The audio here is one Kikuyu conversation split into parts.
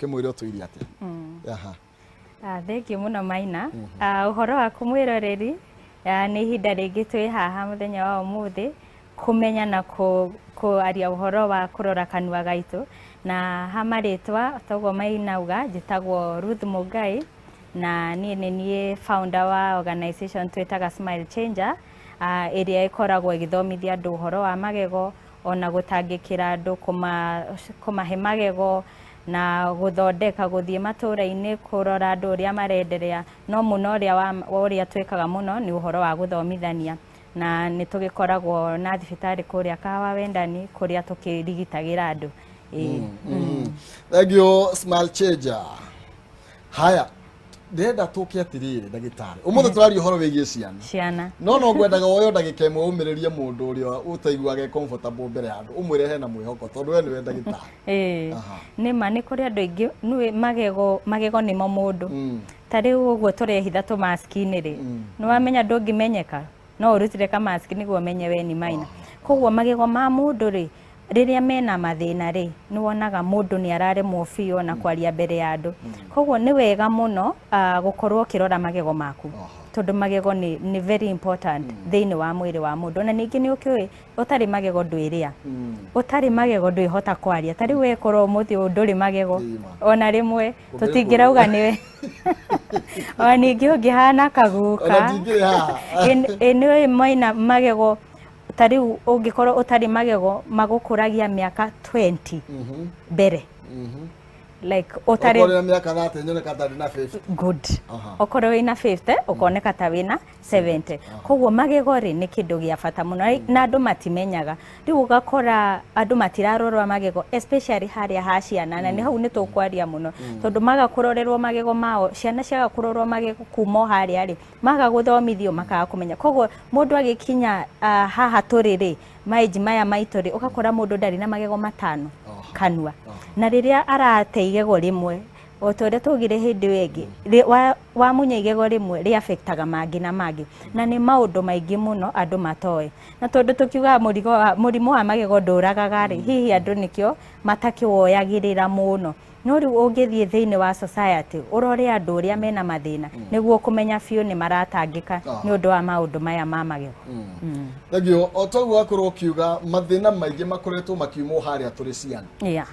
kĩmwĩre ũtũire atĩa mm. aha ah, thengiũ mũno maina mhm. ah, ũhoro waku mwĩroreri ah, nĩ ihinda rĩngĩ twĩ haha mũthenya wa ũmũthĩ kũmenya na kwaria ũhoro wa kũrora kanua gaitũ, na ha marĩtwa toguo mainauga, njĩtagwo Ruth Mũngai, na niĩ nĩ niĩ founder wa organization twĩtaga Smile Changer, ĩrĩa ĩkoragwo ĩgĩthomithia andũ ũhoro wa magego, ona gũtangĩkĩra andũ, kũmahe magego, na gũthondeka, gũthiĩ matũra-inĩ kũrora andũ ũrĩa mare endelea, no mũno ũrĩa twĩkaga mũno nĩ ũhoro wa gũthomithania. na nĩ tũgĩkoragwo na thibitarĩ kũrĩa kawa wendani kũrĩa tũkĩrigitagĩra andũ Ĩĩ. Mm. Thank you, smile changer. Haya, ndĩrenda tũke atĩrĩrĩ ndagĩtarĩ ũmũthĩ tũraria ũhoro wĩgiĩ ciana ciana no no ngwendaga woyo ndagĩka ĩmwe ũmĩrĩrie mũndũ ũrĩa ũtaiguaga e comfortable mbere ya andũ ũmwĩre hena mwĩhoko tondũ we nĩwe ndagĩtarĩ Ĩĩ. Aha. nĩ ma nĩ kũrĩ andũ aingĩ nĩ magego magego nĩmo mũndũ Mm. Ta rĩu ũguo tũrehitha tũ mask inĩ rĩ, mm. nĩ wamenya ndũngĩmenyeka no ũrutire ka mask nĩguo ũmenye we nĩ maina. Koguo magego ma mũndũ rĩ, rĩrĩa mena mathĩna rĩ, nĩ wonaga mũndũ nĩ araremwo biũ na mm. kwaria mbere ya andũ. Mm. Koguo nĩ wega mũno ah, gũkorwo ũkĩrora magego maku tondũ magego nĩ, nĩ very important mm. thĩinĩ wa mwĩrĩ wa mũndũ na ningĩ nĩ ũkĩũĩ ũtarĩ magego ndwĩrĩa mm. ũtarĩ magego ndwĩhota kwaria ta rĩu wekorwo ũmũthĩ ũyũ ndũrĩ magego ona rĩmwe tũtingĩrauga nĩwe ona ningĩ ũngĩhana kagũka Ona ndingĩrĩ haha. Ĩ- ĩ nĩ ũĩ maina magego ta rĩu ũngĩkorwo ũtarĩ magego magũkũragia mĩaka 20 Mhm, mbere mhm. like Okorwo ũtarĩ na mĩaka thate nyoneka ndarĩ na 50. good Aha. okorwo wĩna 50 ũkoneka ta wĩna 70 koguo magego rĩ nĩ kĩndũ gĩa bata mũno Ai- na andũ matimenyaga rĩu ũgakora andũ matirarorwa magego especially harĩa ha ciana na nĩ hau nĩ tũkwaria mũno tondũ maga kũrorerwo magego mao ciana ciaga kũrorwo magego kuma o harĩa rĩ maga gũthomithio makaga kũmenya koguo mũndũ agĩkinya ah, haha tũrĩ rĩ maĩnji maya maitũ rĩ ũgakora mũndũ ndarĩ na magego matano kanua na rĩrĩa arateiga rimwe o ta ũrĩa twaugire hĩndĩ ĩyo ĩngĩ rĩ- wa- wamunya igego rĩmwe rĩafektaga mangĩ na mangĩ na nĩ maũndũ maingĩ mũno andũ matoĩ na tondũ tũkiugaga mũrigo wa, mũrimũ wa magego ndũragaga rĩ hihi andũ nĩkĩo matakĩwoyagĩrĩra mũno no rĩu ũngĩthiĩ thĩinĩ wa society ũrore andũ ũrĩa mena mathĩna nĩguo kũmenya biũ nĩ maratangĩka nĩ ũndũ wa maũndũ maya ma magego Mm. thagio o toguo wakorwo ũkiuga mathĩna maingĩ makoretwo makiumwo harĩa tũrĩ ciana Yeah.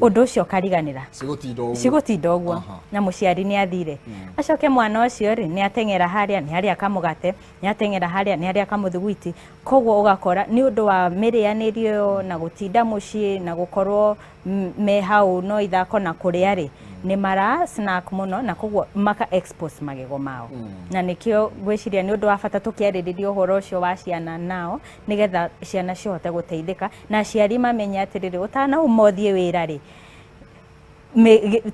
undu ucio ukariganira cigotinda uguo cigutinda uguo Aha. na muciari ni athire acoke mwana ucio ri ni ateng'era haria ni haria kamugate ni ateng'era haria ni haria kamuthuguiti koguo ugakora ni undu wa mirianirio na gutinda mucii na gukorwo m- me hau no ithako na kuria ri ni mara snack muno na koguo maka expose magego mao na nikio gwiciria ni undu wa bata tukiaririria uhoro ucio wa ciana nao nigetha ciana cihote guteithika na aciari mamenye atĩrĩrĩ ũtanauma ũthiĩ wĩra-rĩ,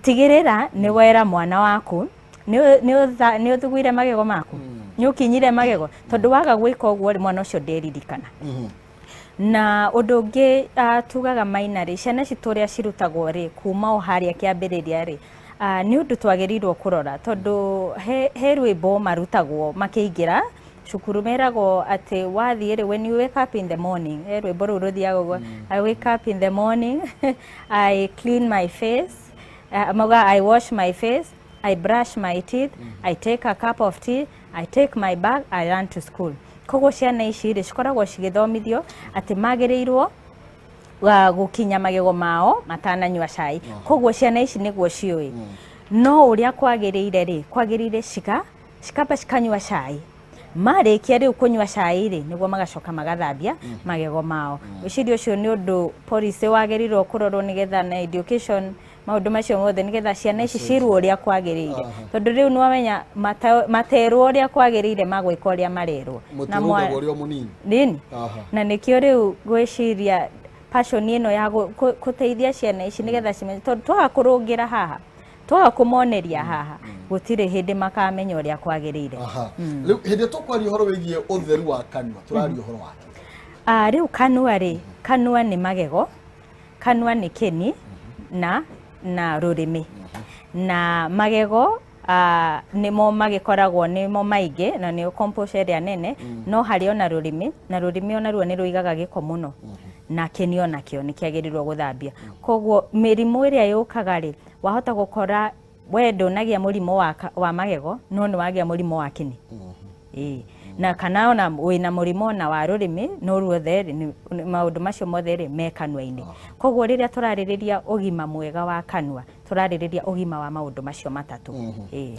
tigĩrĩra nĩ wera mwana waku nĩ ũthugũire magego maku mm. nĩ ũkinyire magego tondũ waga gwĩka ũguo rĩ mwana ũcio nderirikana mm-hmm. na ũndũ ũngĩ ah, tugaga maina rĩ ciana citũ ũrĩa cirutagwo rĩ kuma o harĩa kĩambĩrĩria rĩ ah, nĩ ũndũ twagĩrĩirwo kũrora tondũ he rwĩmbo marutagwo makĩingĩra cukuru meragwo atĩ wathiĩ rĩ when you wake up in the morning eh, rwĩmbo rũu rũthiaga ũguo i wake up in the morning i clean my face uh, mauga i wash my face i brush my teeth i take a cup of tea i take my bag i run to school koguo ciana ici rĩ cikoragwo cigĩthomithio atĩ magĩrĩirwo wa gũkinya magego mao matananyua cai koguo ciana ici nĩguo ciũĩ no ũrĩa kwagĩrĩire rĩ kwagĩrĩire ciga cikamba cikanyua cai marĩkia rĩu kũnyua cai rĩ nĩguo magacoka magathambia mm. magego mao mm. ũciria ũcio nĩ ũndũ policy wagĩrĩirwo kũrorwo nĩgetha na education maũndũ macio mothe nĩgetha ciana ici cirwo ũrĩa kwagĩrĩire tondũ rĩu nĩwamenya materwo ũrĩa kwagĩrĩire magwĩka ũrĩa marerwo na nĩkĩo rĩu gwĩciria passion ĩno ya gũteithia ciana ici nĩgetha cimenye tondũ twaga kũrũngĩra haha twaga kũmoneria haha gũtirĩ hĩndĩ makamenya ũrĩa kwagĩrĩire Aha. Rĩu hĩndĩ ĩrĩa tũkwaria ũhoro wĩgiĩ ũtheru wa kanua tũraria ũhoro wake Ah, rĩu kanua rĩ kanua nĩ magego kanua nĩ kĩni na na rũrĩmĩ na magego ah, nĩmo magĩkoragwo nĩmo maingĩ na nĩyo composure ĩrĩa nene no harĩ ona rũrĩmĩ na rũrĩmĩ onaruo nĩ rũigaga gĩko mũno na kĩni onakĩo nĩ kĩagĩrĩirwo gũthambia koguo mĩrimũ ĩrĩa yũkaga rĩ wahota gukora we ndunagia murimu wa, ka- wa magego no ni wagia murimu wa kini Ĩĩ. na kana ona wina murimu ona wa rurimi no ruothe rĩ, nĩ- nĩ- maundu macio mothe rĩ me kanua-inĩ koguo rĩrĩa tũrarĩrĩria ũgima mwega wa kanua tũrarĩrĩria ũgima wa maundu macio matatu Ĩĩ.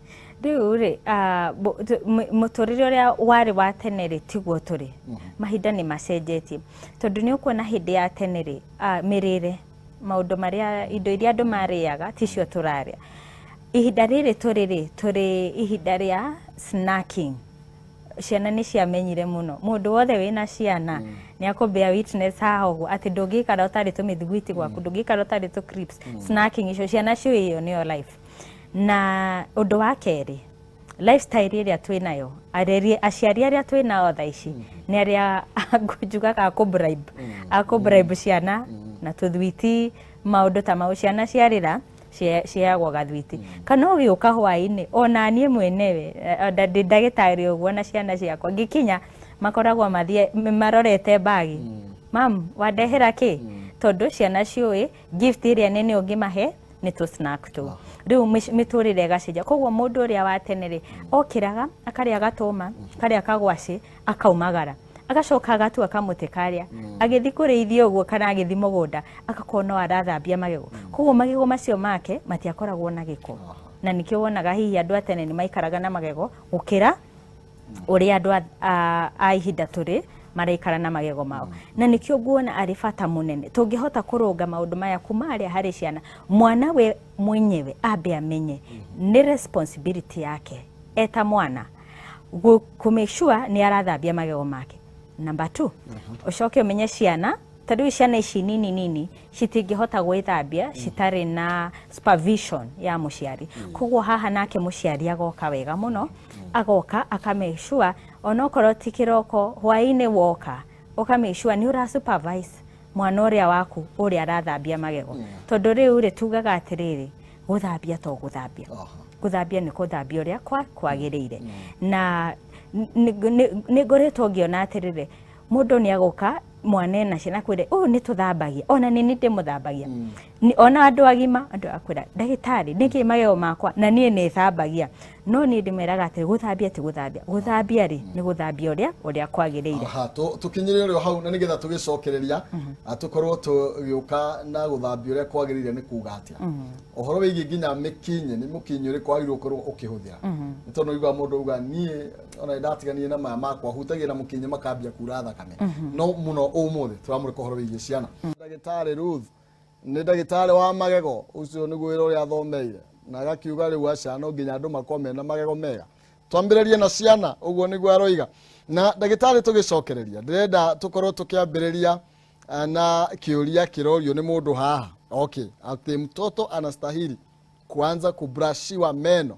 rĩu rĩ ah, bo- tu- mũ- mũtũrĩre ũrĩa warĩ wa tene rĩ tiguo tũrĩ mahinda nĩ macenjetie tondũ nĩ ũkuona hĩndĩ ya tene rĩ ah, mĩrĩre maũndũ marĩa indo iria andũ marĩaga ticio tũrarĩa ihinda rĩrĩ tũrĩ rĩ tũrĩ ihinda rĩa snacking ciana nĩ ciamenyire mũno mũndũ wothe wĩna ciana nĩ akũmbea witness haha ũguo atĩ ndũngĩikara ũtarĩ tũmĩthiguiti gwaku ndũngĩikara ũtarĩ tũ crips snacking icio ciana ciũĩ ĩyo nĩyo life Na ũndũ wa kerĩ, lifestyle ĩrĩa twĩ nayo, areri- aciari arĩa twĩ nao thaa ici, nĩ arĩa njugaga akũ bribe, akũ bribe ciana na tũthwiti, maũndũ ta mau. Ciana ciarĩra, cie- ciheagwo gathwiti. Kana ũgĩũka hwaĩ-inĩ, ona niĩ mwenewe, eh, nda- ndĩ ndagĩtarĩ ũguo na ciana ciakwa, ngĩkinya, makoragwo mathiĩ marorete mbagi. Mamu, wandehera kĩ? Tondũ ciana ciũĩ, gift ĩrĩa nene ũngĩmahe nĩ tũ snack tũu ah. rĩu mĩtũrĩre ĩgacenjia koguo mũndũ ũrĩa wa tene rĩ okĩraga akarĩa gatũma karĩa kagwacĩ akaumagara agacoka agatua kamũtĩ karĩa mm. agĩthiĩ kũrĩithia ũguo kana agĩthiĩ mũgũnda agakorwo no arathambia magego mm. koguo magego macio make matiakoragwo na gĩko na nĩkĩo wonaga hihi andũ a tene nĩ maikaraga na magego gũkĩra ũrĩa andũ a- a- a ihinda tũrĩ maraikara na magego mao na nĩkĩo nguona arĩ bata mũnene tũngĩhota kũrũnga maũndũ maya kuma harĩa harĩ ciana mwana we mwenyewe ambe amenye nĩ responsibility yake eta mwana gũ- kũ make sure nĩ arathambia magego make number two ũcoke ũmenye ciana tondũ ciana ici nini nini citingĩhota gwĩthambia citarĩ na supervision ya mũciari koguo haha nake mũciari agoka wega mũno agoka aka make sure onokorwo ti kĩroko hwaĩ-inĩ woka ũka make sure nĩ ũra supervise mwana ũrĩa waku ũrĩa arathambia magego tondũ rĩu rĩ tugaga atĩrĩrĩ gũthambia to gũthambia gũthambia nĩ gũthambia ũrĩa kwa- kwagĩrĩire na n- nĩ- nĩ nĩ ngoretwo ngĩona atĩrĩrĩ mũndũ nä agoka mwana ena ciana kwä ra å nä tå thambagia ona nä nä ndä må thambagia Nĩ- ona andå agima andå akwä ra ndagä tarä nä kä magego makwa na niä nä thambagia no niä ndä meraga atä gå thambia ti gå thambia gå thambia rä nä gå thambia å rä a å rä a kwagä rä ire Aha, tå- tũkinyĩre ũrĩo hau na nĩgetha tũgĩcokereria ah, tũkorwo tũgĩũka na gũthambia ũrĩa kwagĩrĩire nĩ kuga atĩa ũhoro wĩgiĩ nginya mĩkinyĩ nĩ mũkinyĩ ũrĩkũ wagĩrĩirwo gũkorwo ũkĩhũthĩra nĩ tondũ ũiguaga mũndũ uga niĩ ona ndatiganie na maya makwa hutagia na mukinyi makambia kura thakame no muno umuthi turamure kohoro wigie ciana ndagitari Ruth ni ndagitari wa magego ucio ni gwira uria athomeire na agakiuga riu aca no nginya andu makome na magego mega twambiririe na ciana uguo niguo aroiga na ndagitari tugicokereria ndirenda tukorwo tukiambiriria eh, na kiuria kirorio ni mundu haha okay ati mtoto anastahili kuanza kubrashiwa meno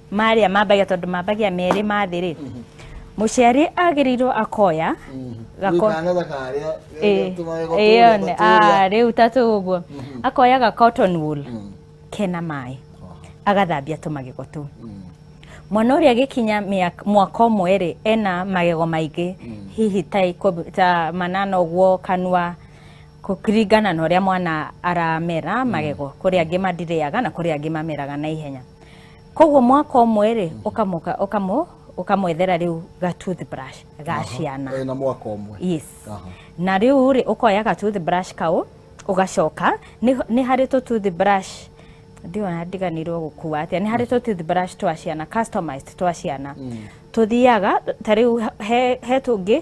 marĩa mambagia tondũ mambagia merĩ ma thĩ rĩ mũciari agĩrĩirwo akoya gako Kana ta karĩa Ĩĩ, tũmaĩ ĩyo nĩ- ah, rĩu ta tũguo akoya ga cotton wool kena maĩ agathambia tũmagego tũu mwana ũrĩa agĩkinya mĩaka- mwaka ũmwe rĩ ena magego maingĩ hihi ta ikũmi- ta manana ũguo kanua kũ- kũringana na ũrĩa mwana aramera magego kũrĩ angĩ mathirĩaga na kũrĩ angĩ mameraga na ihenya koguo mwaka ũmwe rĩ ũkamoka ũkamo ũkamwethera rĩu ga toothbrush ga ciana Eh, na mwaka ũmwe yes Aha. na rĩu rĩ ũkoya ga toothbrush kau ũgacoka nĩ nĩ harĩ tũ toothbrush ndiona ndiganirwo gũkua atĩa nĩ harĩ tũ toothbrush twa ciana customized twa ciana tũthiaga ta rĩu he he tũngĩ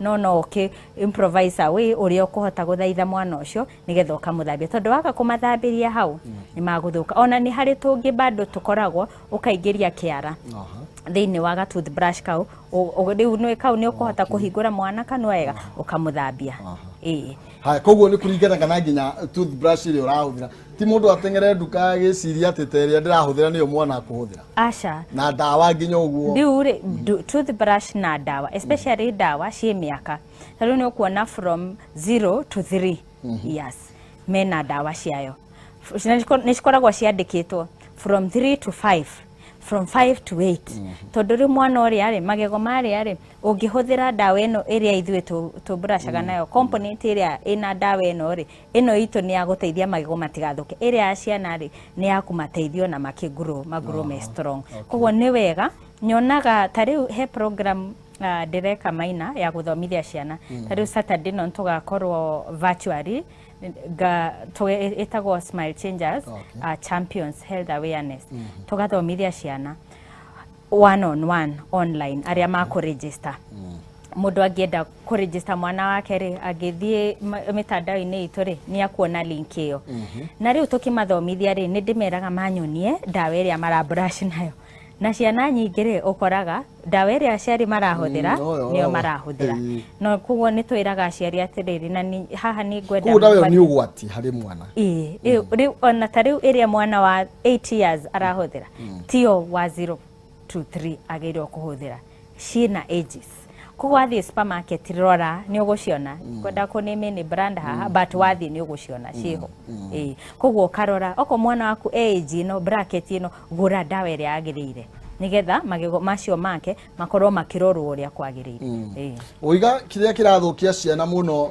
no no ũkĩ improvise away ũrĩa ũkũhota gũthaitha mwana ũcio nĩgetha ũkamũthambia tondũ waga kũmathambĩria hau nĩ magũthũka ona nĩ harĩ tũngĩ bado tũkoragwo ũkaingĩria kĩara thĩinĩ wa ga toothbrush kau ũ- ũ- rĩu nĩ kau nĩ ũkũhota kũhingũra mwana kanua wega ũkamũthambia ĩĩ haya koguo nĩ kũringanaga na nginya toothbrush ĩrĩa ũrahũthĩra ti må ndå atengere nduka agä ciria atä ta ä rä a ndä rahå thä ra nä yo mwana akå hå thä ra aca na ndawa nginya å guo rĩu rĩ ndu- toothbrush na ndawa especially ndawa ciĩ mĩaka ta rĩu nĩ ũkuona from 0 to 3 years mena ndawa ciayo F- na ciko- nĩ cikoragwo ciandĩkĩtwo from 3 to 5 from 5 to 8 tondũ rĩ mwana ũrĩa rĩ magego marĩa rĩ ũngĩhũthĩra ndawa ĩno ĩrĩa ithuĩ tũ- tũbracaga nayo component ĩrĩa ĩna ndawa ĩno rĩ ĩno itũ nĩ ya gũteithia magego matigathũke ĩrĩa ya ciana rĩ nĩ ya kũmateithia ona makĩngurũ magurũ me strong koguo nĩ wega nyonaga ta rĩu he program ah, ndĩreka maina ya gũthomithia ciana ta rĩu saturday no tũgakorwo virtually nga- tũ- ĩtagwo smile changers Okay. ah, champions health awareness tũgathomithia ciana one on one online arĩa makũregister mũndũ angĩenda kũrĩnjĩsta mwana wake rĩ angĩthiĩ ma- mĩtandao-inĩ itũ rĩ nĩ akuona link ĩyo na rĩu tũkĩmathomithia rĩ nĩ ndĩmeraga manyonie ndawa ĩrĩa maraburash nayo na ciana nyingĩ rĩ ũkoraga ndawa ĩrĩa aciari marahũthĩra Mm, oyo, nĩyo oyo. marahũthĩra Mm. no koguo nĩ twĩraga aciari atĩrĩrĩ na ni- haha nĩ ngwenda koguo ndawa ĩyo mũkwari- nĩ ũgwati harĩ mwana Ĩĩ, rĩu- rĩu ona ta rĩu ĩrĩa mwana wa 8 years arahũthĩra tiyo wa zero two three agĩrĩirwo kũhũthĩra ciĩna ages koguo wathiĩ supermarket rora nĩ ũgũciona kwenda kũ name nĩ brand haha but wathiĩ nĩ ũgũciona ciĩho Ĩĩ. koguo ũkarora oko mwana waku e age ĩno bracket ĩno gũra ndawa ĩrĩa yagĩrĩire nĩgetha magego macio make makorwo makĩrorwo ũrĩa kwagĩrĩire Ĩĩ. Ũiga kĩrĩa kĩrathũkia ciana mũno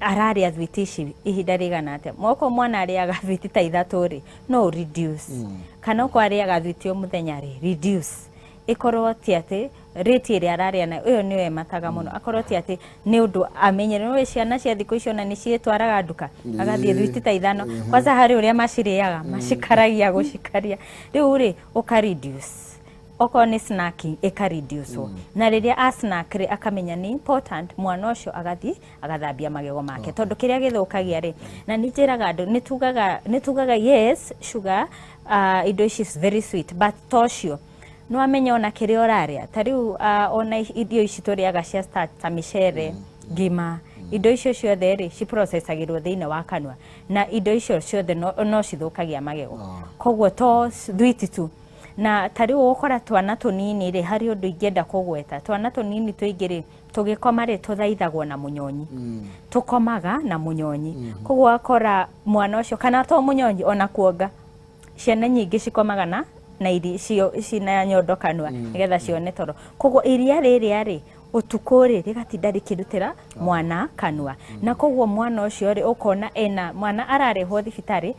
ararĩa thwiti ici ihinda rĩigana atĩa moko mwana arĩaga thwiti ta ithatũ rĩ no reduce mm. kana ũko arĩaga thwiti o mũthenya rĩ reduce ĩkorwo ti atĩ rĩti ĩrĩa ararĩa nayo ĩyo nĩyo ĩmataga mũno mm. akorwo ti atĩ nĩ ũndũ amenyere nĩ ciana cia thikũ icio na nĩ ciĩtwaraga nduka agathiĩ thwiti ta ithano mm-hmm. kwanza harĩ ũrĩa macirĩaga mm. macikaragia gũcikaria rĩu rĩ ũka reduce okorwo nĩ snacking ĩka reduce mm. na rĩrĩa a snack rĩ akamenya nĩ important mwana ũcio agathiĩ agathambia magego make okay. tondũ kĩrĩa gĩthũkagia rĩ na nĩ njĩraga andũ nĩ tugaga yes sugar uh, indo ici very sweet but tocio nä wamenya ona kä rä a å rarä a ta rä u uh, ona irio ici tå rä aga cia starch ta mä cere mm. ngima mm. indo icio ciothe rä ciprocesagä rwo thä inä wa kanua na indo icio ciothe no, no cithå kagia magego oh. koguo to thwiti tu Na ta rĩu ũgũkora twana tũnini rĩ, harĩ ũndũ ingĩenda kũgweta. Twana tũnini tũingĩ rĩ, tũgĩkoma rĩ, tũthaithagwo na mũnyonyi. Tũkomaga na mũnyonyi. Koguo ũgakora mwana ũcio, kana to mũnyonyi, o na kuonga. Ciana nyingĩ cikomaga na na iri cio cina nyondo kanua nĩgetha cione toro. Koguo iria rĩrĩa rĩ, ũtukũ rĩ, rĩgatinda rĩkĩrutĩra mwana kanua. Na koguo mwana ũcio rĩ, ũkona ena, mwana ararehwo thibitarĩ,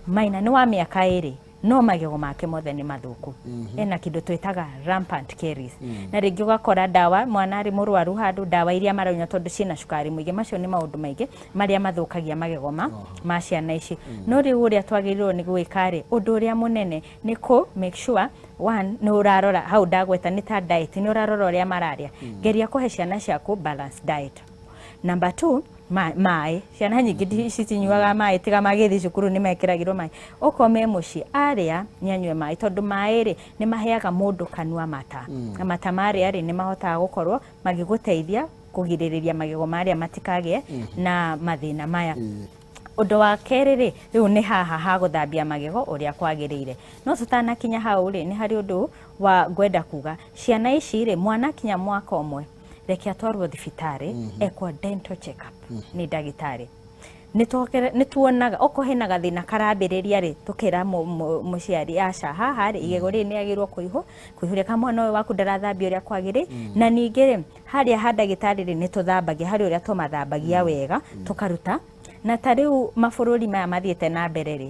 maina nĩ wa mĩaka ĩrĩ, no magego make mothe nĩ mathũku mhm. ena kĩndũ twĩtaga rampant caries mm. na rĩngĩ ũgakora ndawa mwana arĩ mũrwaru handũ ndawa iria maranyua tondũ ciĩna cukari mũingĩ macio nĩ maũndũ maingĩ marĩa mathũkagia magego ma oh. ma ciana ici mm. no rĩu ũrĩa twagĩrĩirwo nĩ gwĩka rĩ ũndũ ũrĩa mũnene nĩ kũ make sure one nä å rarora hau ndagweta nä ta diet nä å rarora å rä a mararä a mm. geria kå he ciana ciaku balance diet number two ma- maĩ ciana nyingĩ ndi- citinyuaga maĩ tiga magĩthiĩ cukuru nĩ mekĩragĩrwo maĩ okorwo me mũciĩ arĩa nĩ anyue maĩ tondũ maĩ rĩ nĩ maheaga mũndũ kanua mata na mata marĩa rĩ nĩ mahotaga gũkorwo magĩgũteithia kũgirĩrĩria magego marĩa matikagĩe na mathĩna maya ũndũ wa kerĩ rĩ rĩu nĩ haha ha gũthambia magego ũrĩa kwagĩrĩire no tũtanakinya hau rĩ nĩ harĩ ũndũ wa ngwenda kuga ciana ici rĩ mwanakinya mwaka ũmwe reke atwarwo thibitarĩ ekwo dental check up nĩ ndagĩtarĩ Nĩtwokere- nĩtuonaga okorwo hena gathĩna karambĩrĩria rĩ tũkera mũ- mũ- mũciari aca haha rĩ igego rĩrĩ nĩagĩrĩirwo kũihũ kũihũria kana mwana ũyũ waku ndarathambia ũrĩa kwagĩrĩ na ningĩ rĩ harĩa ha ndagĩtarĩ rĩ nĩtũthambagia harĩ ũrĩa tũmathambagia wega tũkaruta na ta rĩu mabũrũri maya mathiĩte na mbere rĩ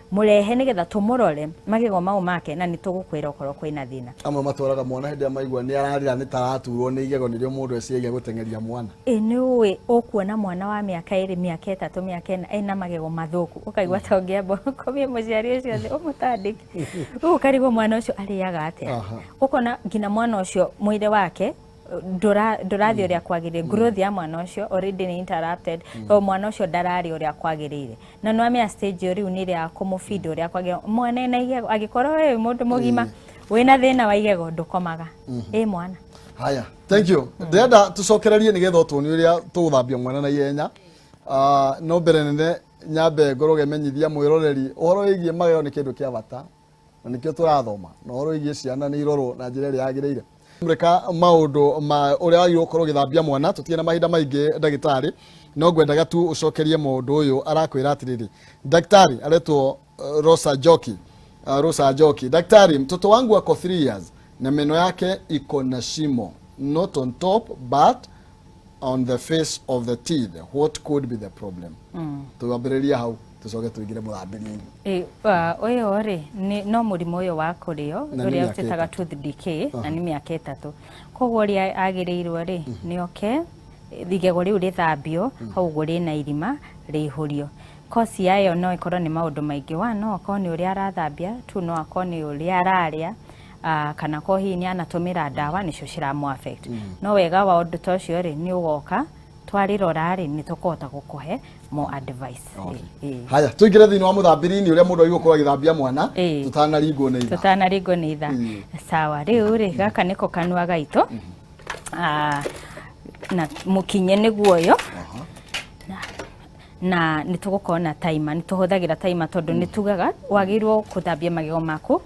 Mũrehe nĩgetha tũmũrore magego mau make na nĩtũgũkwĩra okorwo kwĩna thĩna. Amwe matwaraga mwana hĩndĩ ĩrĩa maigua nĩ ararĩra nĩ ta araturwo nĩ igego nĩrĩo mũndũ eciragia gũteng'eria mwana. Ĩ nĩ ũĩ ũkuona mwana wa mĩaka ĩrĩ, mĩaka ĩtatũ, mĩaka ĩna ena magego mathũku ũkaigua ta ũngĩamba ũkomie mũciari ũcio thĩ ũmũtandĩke. Rĩu ũkarigwo mwana ũcio arĩaga atĩa. Ũkona nginya mwana ũcio mwĩrĩ wake ndũra- ndũrathiĩ ũrĩa kwagĩrĩire growth ya mwana ũcio already nĩ interrupted tondũ mwana ũcio ndararĩ ũrĩa kwagĩrĩire na nĩ wamenya stage ĩyo rĩu nĩ ĩrĩa ya kũmũbinda ũrĩa kwagĩrĩire mwana ena igego angĩkorwo wĩ mũndũ mũgima wĩna thĩna wa igego ndũkomaga ĩ mwana haya thank you ndĩrenda tũcokererie nĩgetha ũtuonie ũrĩa tũgũthambia mwana na ihenya Ah, no mbere nene nyambe ngorwo ngemenyithia mwĩroreri ũhoro wĩgiĩ magego nĩ kĩndũ kĩa bata na nĩkĩo tũrathoma na ũhoro wĩgiĩ ciana nĩ irorwo na njĩra ĩrĩa yagĩrĩire reka maũndũ ma ũrĩa wagĩrĩirwo gũkorwo ũgĩthambia mwana tũtirĩ na mahinda maingĩ ndagĩtarĩ no ngwendaga tu ũcokerie mũndũ ũyũ arakwĩra atĩrĩrĩ ndagĩtarĩ aretwo uh, rosa joki uh, rosa joki ndagĩtarĩ mtoto wangu ako 3 years na meno yake iko na shimo not on top but on the face of the teeth what could be the problem mm. tuambiriria hau tucoke tuingire murambiriini eh, uh, uyu ri no murimu uyu wa kurio uria utitaga tooth decay uh-huh. na ni miaka itatu koguo uria agirirwo ri mm. ni oke igego riu rithambio mm. hau guo rina irima rihurio kosi yayo no ikorwo ni maundu maingi wa no akorwo ni uria arathambia tu no akorwo ni uria araria Ah, kana ko hihi nĩ anatũmĩra ndawa nĩcio ciramũ affect no wega wa ũndũ ta ũcio rĩ nĩ ũgoka twarĩrora rĩ nĩ tũkũhota gũkũhe mo advice Okay. Ĩ, ĩ. haya tå ingä re thä inä wa må thambä-inä å rä a må ndå agä korwo agä thambia mwana Ĩĩ. tå tanaringwo nä itha tũtanaringwo nĩ itha Ĩĩ. sawa rĩu rĩ gaka nĩko kanua gaitũ Ah, na mũkinye nĩguo ũyũ na nĩ tũgũkorwo na taima nĩ tũhũthagĩra taima tondũ nĩ tugaga wagĩrĩirwo gũthambia magego maku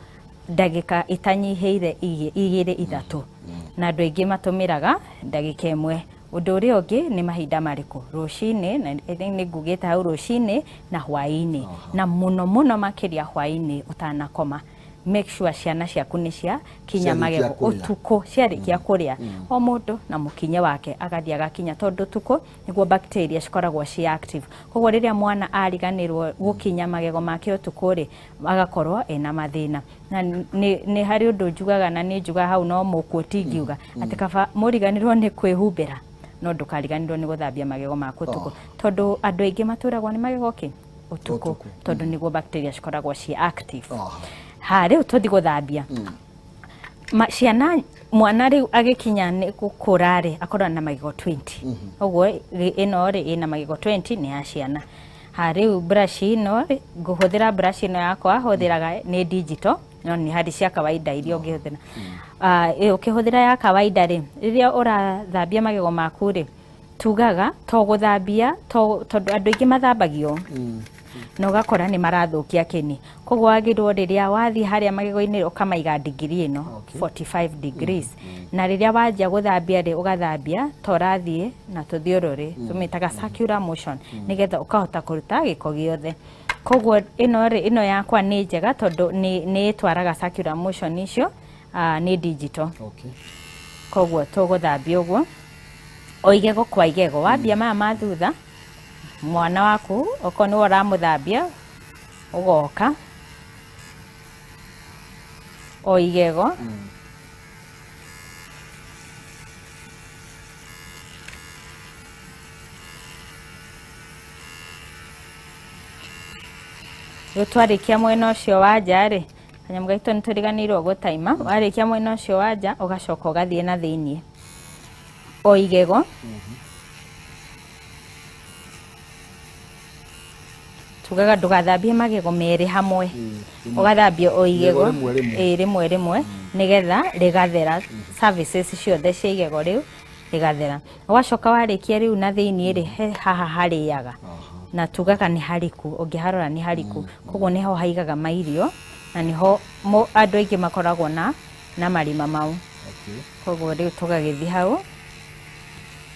ndagĩka itanyihĩire igĩ- igĩrĩ ithatũ na andũ aingĩ matũmĩraga ndagĩka ĩmwe ũndũ ũrĩa ũngĩ nĩ mahinda marĩkũ rũcinĩ na I think nĩ ngugĩte hau rũcinĩ na hwaĩ-inĩ na mũno mũno makĩria hwaĩ-inĩ ũtanakoma make sure ciana ciaku nĩ cia kinya Ciarĩkia magego kũrĩa. ũtukũ ciarĩkia kũrĩa o mũndũ na mũkinye wake agathiĩ agakinya tondũ ũtukũ nĩguo bacteria cikoragwo ci active koguo rĩrĩa mwana ariganĩrwo gũkinya magego make ũtukũ rĩ agakorwo ena mathĩna na nĩ nĩ harĩ ũndũ njugaga na nĩ njugaga hau no mũkuo tingiuga atĩ kaba mũriganĩrwo nĩ kwĩhumbĩra no ndũkariganĩrwo nĩ gũthambia magego maku ũtukũ tondũ andũ aingĩ matũragwo nĩ magego kĩ ũtukũ tondũ nĩguo bacteria cikoragwo ciĩ active Aha. ha rĩu tũthi gũthambia Ma- ciana mwana rĩu agĩkinya nĩ gũkũra rĩ akorwo na magego 20 ũguo rĩ, ĩno rĩ ĩna magego 20 nĩ ya ciana Ha rĩu brush ĩno rĩ, ngũhũthĩra brush ĩno yakwa hũthĩraga nĩ digital no nĩ harĩ cia kawaida iria ũngĩhũthĩra Ah, ĩ, ũkĩhũthĩra ya kawaida rĩ rĩrĩa ũrathambia magego maku rĩ tugaga to gũthambia to- tondũ andũ aingĩ mathambagio na ũgakora nĩ marathũkia kĩni koguo wagĩrĩirwo rĩrĩa wathiĩ harĩa magego-inĩ ũkamaiga ndigiri ĩno Okay. 45 degrees na rĩrĩa wanjia gũthambia rĩ ũgathambia ta ũrathiĩ na tũthiũrũrĩ tũmĩtaga circular motion nĩgetha ũkahota kũruta gĩko gĩothe koguo ĩno rĩ ĩno yakwa nĩ njega tondũ nĩ nĩ ĩtwaraga circular motion icio ah, nĩ digital Okay. koguo tũgũthambia ũguo o igego kwa igego wambia maya ma thutha mwana waku okorwo nĩwe ũramũthambia ũgoka o igego rĩu twarĩkia mwena ũcio wa nja rĩ kanyamũ gaitũ nĩ tũriganĩirwo gũtaima warĩkia mwena ũcio wa nja ũgacoka ũgathiĩ na thĩiniĩ o igego tugaga ndũgathambie magego merĩ hamwe mm, ũgathambia o igego rĩmwe rĩmwe mm. nĩgetha rĩgathera mm. services ciothe cia igego rĩu rĩgathera ũgacoka warĩkia rĩu na thĩinĩ rĩ haha harĩaga na tugaga nĩ hariku ũngĩharora nĩ hariku koguo nĩho haigaga mairio na nĩho andũ aingĩ makoragwo na na marima mau Okay. koguo rĩu tũgagĩthiĩ hau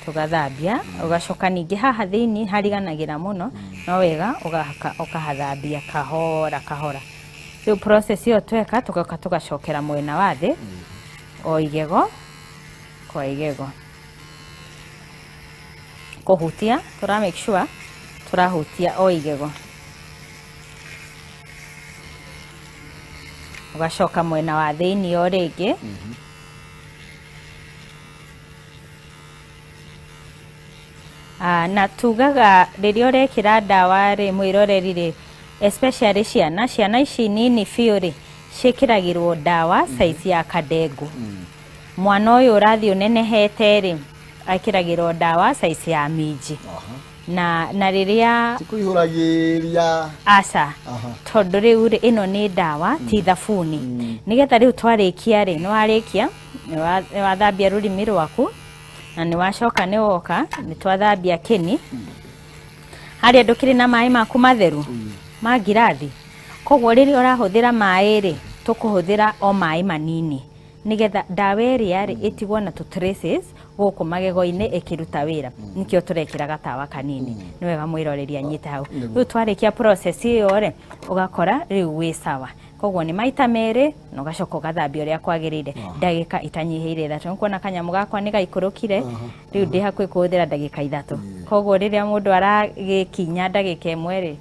tũgathambia ũgacoka ningĩ haha thĩinĩ hariganagĩra mũno no wega ũgahaka- ũkahathambia kahora kahora rĩu process ĩyo tweka tũgoka tũgacokera mwena wa thĩ o igego kwa igego kũhutia tũra make sure tũrahutia o igego ũgacoka mwena wa thĩinĩ o rĩngĩ Ah, na tugaga rĩrĩa ũrekĩra ndawa rĩ mwĩroreri rĩ especially ciana ciana ici nini biũ rĩ ciĩkĩragĩrwo ndawa saizi ya kadengu mwana ũyũ ũrathiĩ ũnenehete rĩ ekĩragĩrwo ndawa saizi ya minji Aha. na na rĩrĩa tikuihũragĩria aca aha tondũ rĩu rĩ ĩno nĩ ndawa ti thabuni nĩgetha rĩu twarĩkia rĩ nĩ warĩkia nĩ wa- nĩ wathambia rũrimi rwaku na nĩ wacoka nĩ woka nĩ twathambia kĩni harĩa ndũkĩrĩ na maĩ maku matheru ma ngirathi koguo rĩrĩa ũrahũthĩra maĩ rĩ tũkũhũthĩra o maĩ manini nĩgetha ndawa ĩrĩa rĩ ĩtigwo na tũ traces gũkũ magego-inĩ ĩkĩruta wĩra nĩkĩo tũrekĩra gatawa kanini nĩ wega mwĩroreri anyite hau rĩu twarĩkia process ĩyo rĩ ũgakora rĩu wĩ sawa koguo nĩ maita merĩ na ũgacoka ũgathambia ũrĩa kwagĩrĩire ndagĩka itanyihĩire ithatũ nĩ kuona kanyamũ gakwa nĩ gaikũrũkire rĩu ndĩ hakuhĩ kũhũthĩra ndagĩka ithatũ koguo rĩrĩa mũndũ aragĩkinya ndagĩka ĩmwe rĩ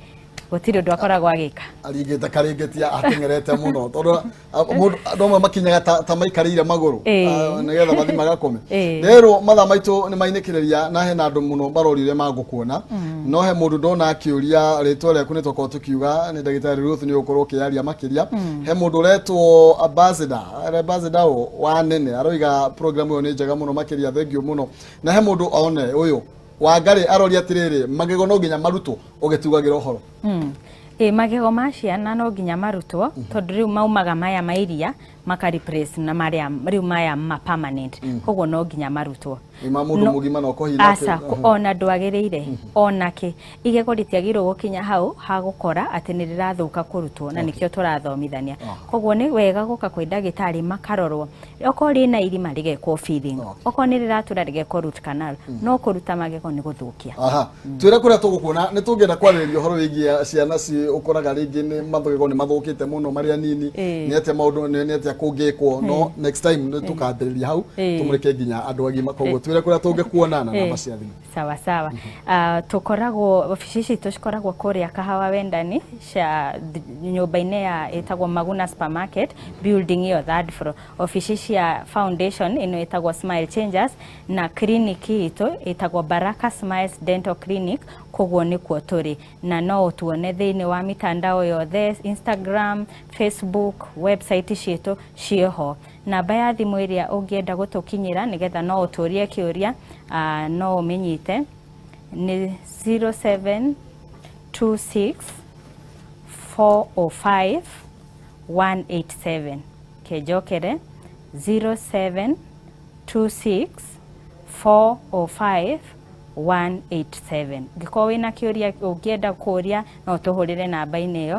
gũtirĩ ũndũ akoragwo agĩka aringĩte karĩngĩti ateng'erete mũno tondũ a- mũndũ- andũ amwe makinyaga ta ta maikarĩire magũrũ Ĩĩ. Ah, nĩgetha mathi magakome Ĩĩ. rerwo mathaa maitũ nĩ mainĩkĩrĩria na hena andũ mũno marorire magũkuona no he mũndũ ndona akĩũria rĩtwa rĩaku nĩ tokorwo tũkiuga nĩ ndagĩtarĩ Ruth nĩ ũgũkorwo ũkĩyaria makĩria he mũndũ ũretwo ambassador ambassador ũũ wa nene aroiga program ĩyo nĩ njega mũno makĩria thengiũ mũno na he mũndũ one ũyũ Wangarĩ arori atĩrĩrĩ, magego no nginya marutwo ũgĩtugagĩra ũhoro. Mm. Ĩ magego ma ciana no nginya marutwo mm -hmm. tondũ rĩu maumaga maya ma iria maka replace na marĩa rĩu maya ma permanent mm. koguo no nginya marutwo ma mũndũ mũgima no kohira aca uh -huh. ona ndwagĩrĩire mm -hmm. onake igego rĩtiagĩrĩirwo gũkinya hau ha gũkora atĩ nĩ rĩrathũka kũrutwo na okay. nĩkĩo tũrathomithania uh -huh. koguo nĩ wega gũka kwĩ ndagĩtarĩ makarorwo okorwo rĩna irima rĩgekwo filling okorwo nĩ rĩratũra rĩgekwo root canal no kũruta magego nĩ gũthũkia aha twĩre kũrĩa tũgũkuona nĩ tũngĩenda kwarĩrĩria ũhoro wĩgiĩ ciana ci ũkoraga rĩngĩ nĩ mathogego nĩ mathũkĩte mũno marĩa nini Ĩĩ. nĩ atĩa maũndũ nĩ nĩ atĩa kũngĩkwo no next time nĩ tũkambĩrĩria hau Ĩĩ. tũmũrĩke nginya andũ agima koguo twĩre kũrĩa tũngĩkuona na namba cia thimũ sawa sawa Ah, tũkoragwo obici citũ cikoragwo kũrĩa kahawa wendani cia th- nyũmba-inĩ ya ĩtagwo maguna supermarket building ĩyo third floor obici cia foundation ĩno ĩtagwo smile changers na clinic itũ ĩtagwo baraka smiles dental clinic koguo nĩkuo tũrĩ na no ũtuone thĩinĩ wa mitandao yothe instagram facebook website citũ ciĩho Namba ya thimũ ĩrĩa ũngĩenda gũtũkinyĩra nĩgetha no ũtũrie kĩũria no ũmĩnyite nĩ 0726405187 kenjokere 0726405187 ngĩkorwo wĩna kĩũria ũngĩenda kũria no ũtũhũrĩre namba-inĩ ĩyo.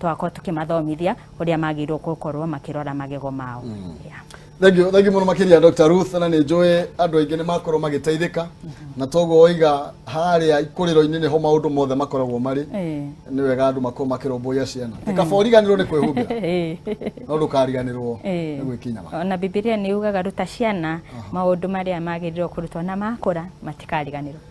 twakorwo tũkĩmathomithia ũrĩa magĩrĩirwo gũkorwo makĩrora magego mao Yeah. thengio thengio mũno makĩria dr ruth na nĩ njũĩ andũ aingĩ nĩ makorwo magĩteithĩka na toguo oiga harĩa ikũrĩro-inĩ nĩho maũndũ mothe makoragwo marĩ Eh. nĩ wega andũ makorwo makĩrũmbũiya ciana Eh. kaba ũriganĩrwo nĩ kwĩhumbĩra Eh. no ndũkariganĩrwo Eh. nĩ gwĩkinya ma ona bibilia nĩ yugaga ruta ciana maũndũ marĩa magĩrĩirwo kũrutwo na makũra matikariganĩrwo